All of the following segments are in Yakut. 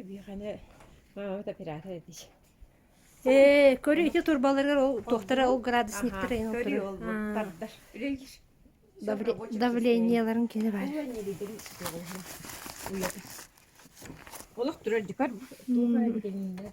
Биһиэхэ мааммыт оператор этий. Э, көрү ити турбаларыгар ол туохтара ол градусниктар айын көрү олбут тардар үлелиш давлениеларын кини бар уйата олох турар дикар туга битининде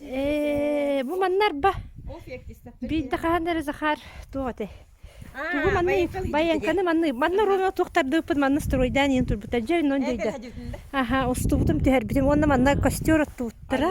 Э, бу маннарба. Биирде хаһан эрэ Захар туох ате. Тугу манны баянканы манны манна руна туктардыппыт манны стройдан иен турбута жай нон жайда. Аха устубутум түһэрбитим онна манна костер оттууттара.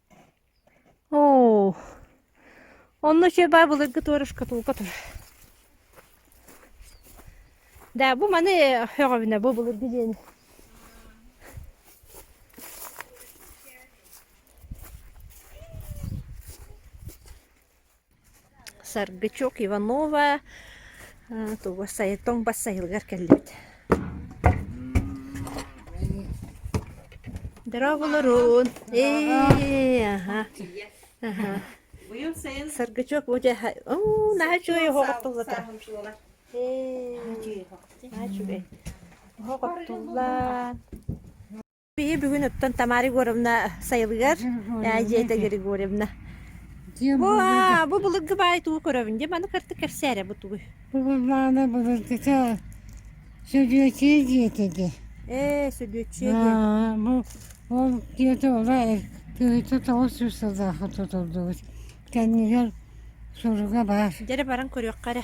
Оо, онно чырбай былыргы туора шкатулка тур. Да бу маны өҕөбүнэ бу былыргы диэни. Саргычок Иванова тугу сайытон бас сайылыгар кэллибит Здраволорун ээ аха аха Саргычок бу дьэ оо наһаа үчүгэй оһох оттуллата ээ наһаа үчүгэй оһох оттуллаан Биһи бүгүн оттон Тамара Егоровна сайылыгар э, Дьиэтэ Григорьевна. Дьиэм Бу булуйда. а, бу былыргы баай тугу көрөбүн дим аны кырты кэпсээрэ бу тугуй. Булумааны булуйдата сөдүөчей диэтэ де. Э, сөдүөччүе диэн. Аа, бу ол диэтэ олай кыһыты тоҕус жүз сылдааха тутулдубут. Кэннигэр суруга баар. Дэрэ баран көрүөххэ эрэ.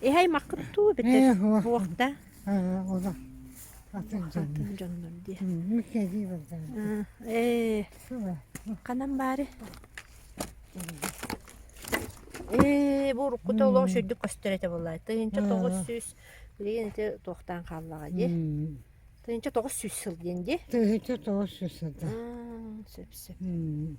Иһ-аймаххыт дуу бүтэй Э, уо. буох да Аа, олох атын дьоннор. атын дьоннор дии. М, Кэлии бардан. Аа, Ээ, Суба. ханан баары? Ээ, бу уруккута олох сүрдүк көстөр этэ буоллай. Тыйынча Аа. тоҕус сүүс билигин ити туохтаан хааллаҕа дии. М, Тыйынча тоҕус сүүс сыл диэн дии. Тыһыта тоҕус сүүс сылда. Аа, сөп сөп. М,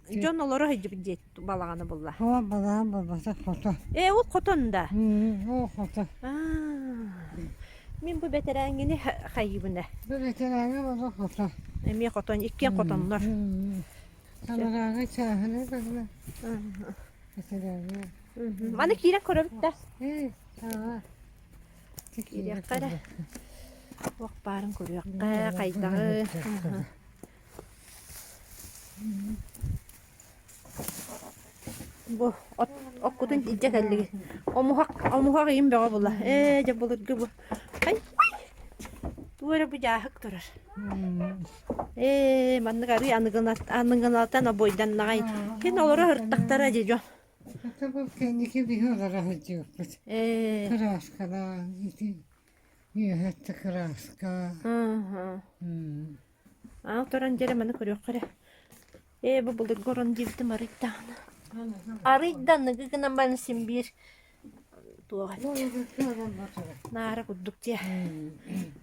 Дьон олоро сылдьыбыт диэт балаҕаны булла. Оо, балаҕан булбата хото. Ээ, ол хотон да. Оо, хото. Мин бу бэтэрээҥҥини хайыбына. Бу бэтэрээҥҥэ була хото. Эмиэ хотон, иккиэн хотоннор. Самарааҥҥа чааһына көрмө. Бэтэрээҥҥэ. Аны киирэн көрөбүт да. Эй, саҕа. Киириэххэ эрэ. Уох баарын көрүөххэ, хайдаҕы. Бу от оккутун илдьэ кэллигин. Омуһак омуһак иим бөҕө була. Ээ дьэ былыргы бу. Ай туо эрэ бу дьааһык турар. Ээ маннык арыы аныгынат аныгынатан обойданнаҕай. Кин олоро ыртахтара дьэ дьо. Это был кэнники биһи олара сылдьыахпыт. Ээ. Кырааскалаах ити үөһэттэ кырааска. Аха. Аал туран дьэрэ маны көрүөххэ эрэ. Ээ, бу былыргы орон диэбитим арыый даҕаны. Арыый да аныгы гынан баран син биир туох эт наара курдук дии.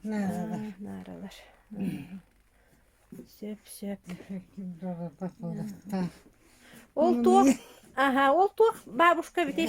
Нааралар. Нааралар. Сөп-сөп. Ол туох аха ол туох бабушка эбитий?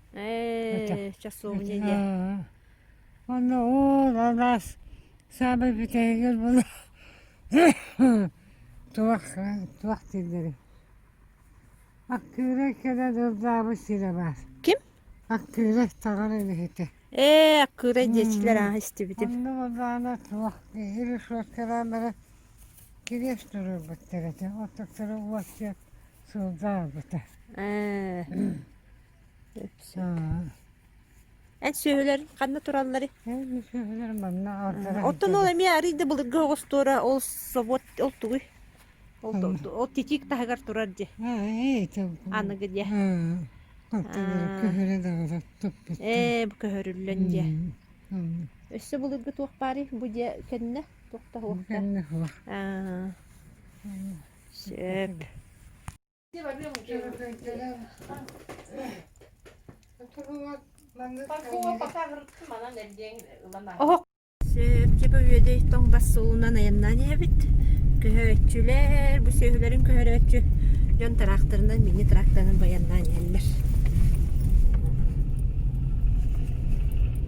Ээ, часовня дьэ. Онно ол алас саамай бүтэһигэр була туох туох дииллэрий? Аккыырай кэлэ дурдаабы сирэ баар. Ким? Аккыырай таҕар илиһитэ. Ээ, аккыырай диэчилэр аа истибитим. Онно болаана туох киһи решеткалаан баран кириэс турурбуттар этэ. Оттуктары уоттуйан сылдаарбыта. Ээ. Эн сүөһүлэр ханна тураллар? Эн сүөһүлэр манна Оттон ол эмиэ арыйда былыргы оҕустуора ол собот ол тугуй? Ол ол титик таһыгар турар дьи. Аныгы дьэ. Ээ бу көһөрүллөн дьэ. Өссө былыргы туох баары бу дьэ кэннэ туохта хуохта? Кэннэ хуох. Аа. Сөп. Сэрчипэ үөдэй тоҥ бассуунан айаннаан ийэбит. Көһөөччүлэр, бу сүөһүлэрин көһөрөөччү дьон тракторынан, мини тракторынан байаннаан иһэллэр.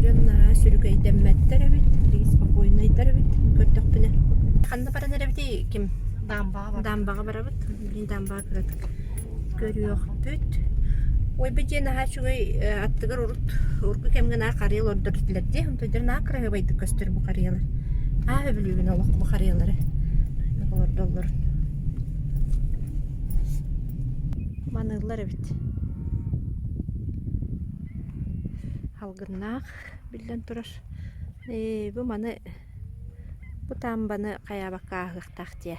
Дьон наһаа сүрүкэйдэммэттэр эбит, спокойнайдар эбит көрдөхпүнэ. Ханна баран эрэбитий ким? Даамбаҕа барабыт. Даамбаҕа барабыт. Билигин даамбаҕа кыратык көрүөхтүт. Ой-бай диэн наһаа үчүгэй э, аттыгар урут урукку кэмҥэ наа харыйа олордор этилэр дии. Онтойдор наа кыраһыабайдык көстөр бу харыйалар. Аа өбүлүүбүн олох бу харыйалары олордоллор. Маныыллар эбит. Алгыннаах биллэн турар. Ээ, бу маны бу таамбаны хайаабакка ааһыахтаах дии.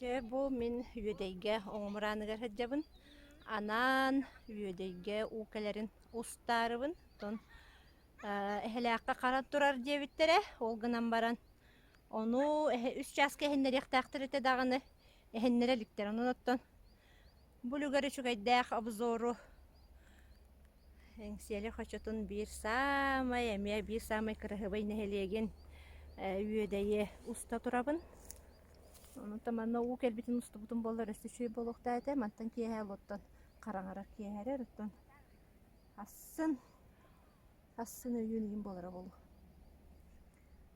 Чэ, бу мин Үөдэйгэ оҕумуорааныгар сылдьабын. Анаан Үөдэйгэ уу кэлэрин устаарыбын. Оттон Эһэлээххэ харан турар диэбиттэрэ. Ол гынан баран ону үс чааска иһиннэриэхтээхтэр этэ даҕаны иһиннэрэ иликтэр. Онон оттон бу үлүгэр үчүгэйдээх обзору Эҥсиэли хочотун биир саамай эмиэ биир саамай кыраһыабай нэһилиэгин үөдэйи уста турабын. Онтон манна уу кэлбитин устубутум буоллар өссө үчүгэй буолуохтаах этэ. Мантан киэһэ олортон хараҥарар киэһэ эрэр. Оттон ассын ассын өйүүн ыйын буолара буолуо.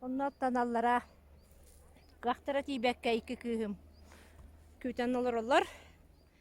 Оннуттан аллара кыахтара тиийбэккэ икки кыыһым күүтэн олороллор.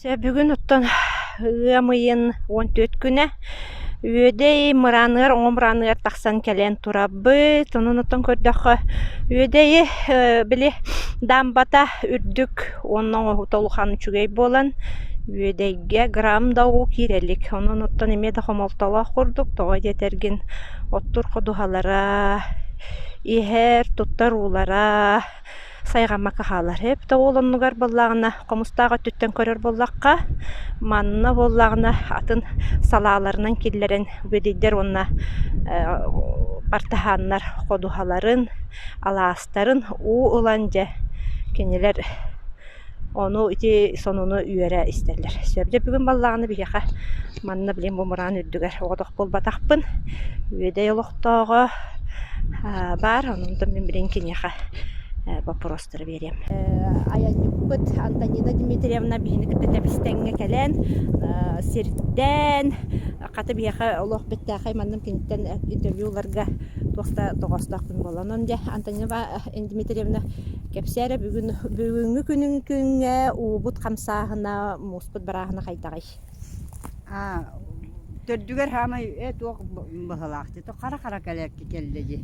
Сөбүгүн оттон ыам ыйын уон түөрт күнэ Үөдэй мырааныгар, оҕом мырааныгар тахсан кэлэн турабыт. Онон оттон көрдөххө Үөдэйи били даамбата үрдүк уонна оҥоһуута улахан үчүгэй буолан Үөдэйгэ грамм да уу киирэ илик. Онон оттон эмиэ да хомолтолоох курдук. Тоҕо диэтэргин, оттор ходуһалара, иһэр, туттар уулара сайҕаммакка хаалар. Эбэтэ уол оннугар буоллаҕына, хомустаах өттүттэн көрөр буоллахха, манна буоллаҕына атын салааларынан киллэрэн бүөдэйдэр уонна партаһааннар ходуһаларын, алаастарын уу ылан дьэ кинилэр Ону ити сонуну үөрэ истэллэр. Сөп, дьэ бүгүн баллаҕаны биһиэхэ манна билигин бумураан үрдүгэр оҕотох буолбатахпын. Үөдэй олохтооҕо аа баар, онтон мин билигин киниэхэ э, боппуруостары биэриэм. айанньыппыт Антонина Дмитриевна биһини кытта тэбистэҥҥэ кэлэн э, сирдээн, хата биһиэхэ олох бэттээхэй манным киниттэн интервью ыларга туох да тоҕоостоох күн буолан. Онон дьэ Антонина Дмитриевна Кэпсээрэ бүгүн бүгүҥҥү күнүн күҥҥэ уубут хамсааһына, мууспут бырааһына хайдаҕый? Аа, төрдүгэр хаамай э туох быһалаахтыы то хара-хара кэлэрки кэллэ дии.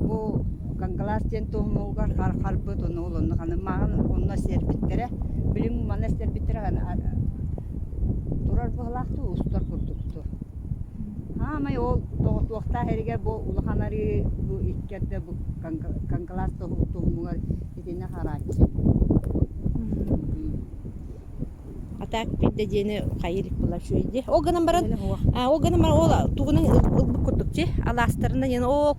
Бу Кангалаас диэн туһунугар харбыт ону олонну ханы маҕан онно сиэрбиттэрэ билим манна сиэрбиттэрэ турар быһалаахтыы устар курдукту. Саамай ол тоҕуттуохтаах эригэр бу улахан арыы бу икки эрдэ бу Кангалаас туһуҥҥа итиннэ харааччы. А так пирда диэни хайырик була шуйди. Ол гынан баран ол гынан баран ол тугунан ылбыт курдук чи аластарынан яна о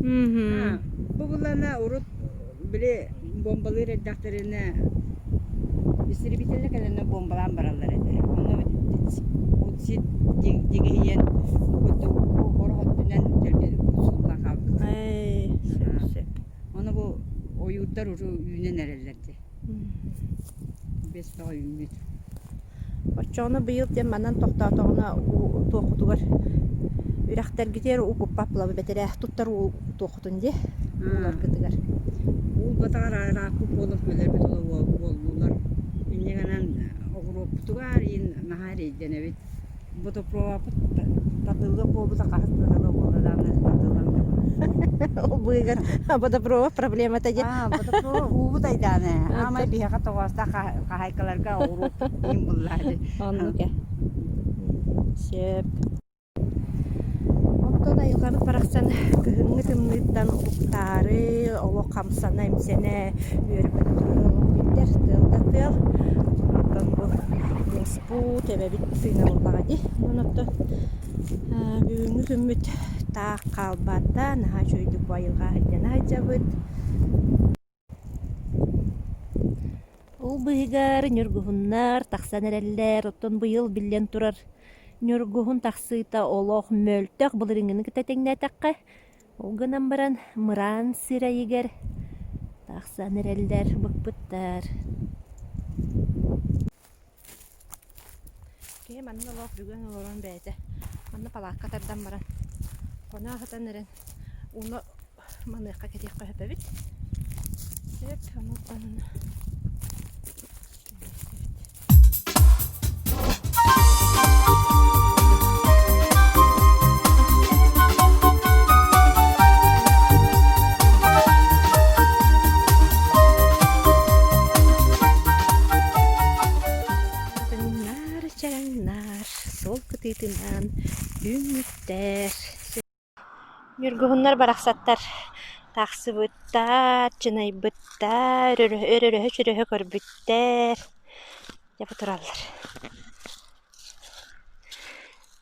Мгм. Бу былана урут били бомбалыыр эрдэхтэринэ истребительлэр кэлэнэ бомбалаан бараллар этэ. Ону УТСИТ дигиһийэн ол курдук оҕолор өттүнэн сууллан хаалбыта. Ай, сөп, сөп. Ону бу ойуурдар уру үүнэн эрэллэр дии. Биэс бөҕө үүммүт. Оччоҕуна быйыл диэн манан тохтоотоҕуна уу туоххутугар үрэхтэргитигэр укуппаппылабы бэтэрээ туттар уу туоххутун дии ууларгытыгар? Уулбатаҕар арааппыт буолан кэлэрбит ыла уол уоллуулар. Инньэ гынан оҕуруоппутугар иһин наһаа эрэйдэнэбит. Бодопуоппут татылы буобута хас тыгыла буола даҕаны татылам да Ол быыгын бодопрова проблемата диэн. Аа бодопрова уубут айдааны аамай биһиэхэ тоҕоостоох хаһаайкаларга уруоппут диин буллаа дии. Оннук э. Сөп. Онтон айылҕабыт барахсан кыһыҥҥы тымныыттан уктаары, олох хамсана, имсэнэ үөрбэт тыал да тыал. Онтон бу Бу тэбэбит сыына булбаҕа дии онон оттон бүгүҥҥү күммүт таах хаалбаат да наһаа үчүгэйдик бу айылҕа сылдьан сылдьабыт. Ол быыһыгар ньургуһуннар тахсан эрэллэр оттон быйыл биллэн турар ньургуһун тахсыыта олох мөлтөх былырыыҥҥыны кытта тэҥнээтэххэ ол гынан баран мыраан сир айыгар тахсан эрэллэр быкпыттар. Киһи манна олох бүгүн олорон бэйэтэ манна палаакка тардан баран хоноо сытан эрэн ууну маныахха кэтиэххэ сөп эбит. Сөп онуттан кэбиһиэхтэбит. Таҥнаар чараҥнаар суол кытыытынаан үүммүттэр. Ньургуһуннар барахсаттар таахсыбыттар, чынайбыттар, өрөһө-чөрөһө көрбүттэр. Дьэ бу тураллар.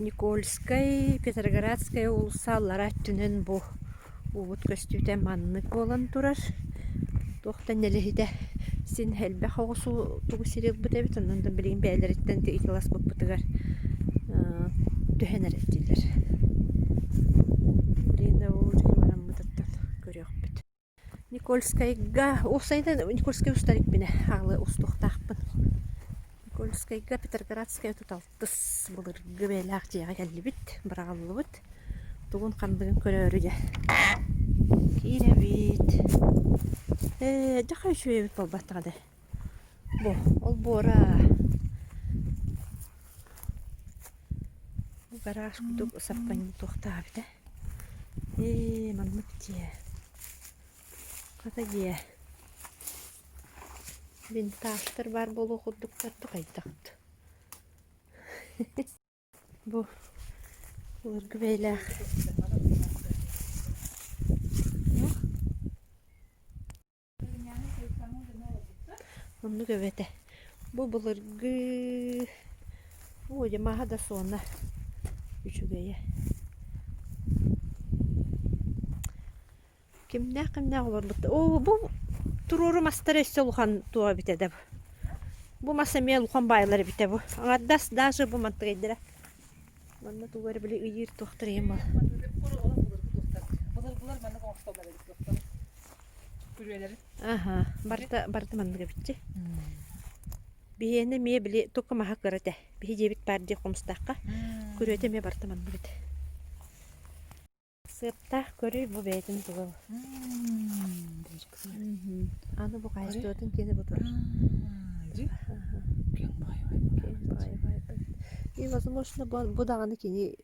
Никольскай, Петроградскай уулусса аллара өттүнэн бу уубут көстүүтэ маннык буолан турар. Туох да нэлэһитэ син элбэх оҕусу тугу сири ылбыт эбит, онон да билигин бэйэлэриттэн ыйыталаспыппытыгар түһэнэр этилэр. Билигин да бу дьиҥи бараммытыттан көрүөхпүт Никольскайга, уопсайынан Никольскай устар икбинэ аалы устуохтаахпын. Никольскайга Петерградскайга отут алтыс былыргы бэйэлээх дьиэҕэ кэллибит, быраҕыллыбыт. Тугун-хандыгын көрөөрү дьэ киирэбит. Ээ, дьахха үчүгэйбит буолбатаҕа даа. Бу ол буора бу гараж курдук саппанньы туохтаабыта. Ээ маннык дьиэ. Хата дьиэ. Винтажтар баар буолуо курдуктар да хайдахт. Бу былыргы бэйэлээх Оннук эбэтэ. Бу былыргы Оо, дьэ маһа да суона үчүгэйэ. Кимнээх-кимнээх олорбутта. Оо, бу туруору мастары өссө улахан туох эбитэ да бу. Бу мас эмиэ улахан баайылар эбитэ бу. Аҥардас даже бу мантыгайдара. Манна тугу эрэ били ыйыыр туохтар ийэм бол. Былыргылар маннык оҥостоллор эбит туохтарын. Аха, барыта барыта маннык эбитчи. Биһиэнэ эмиэ били тука маһа кыра этэ. Биһи дьиэбит баар дии хомустаахха. Күрүөтэ эмиэ барыта маннык эбит. Сыаптаах көрүй бу бэйэтин тугал. Аны бу хаһыстыбатын киэнэ бу тур. Кең баайбайбыт. И, возможно, бу даҕаны кини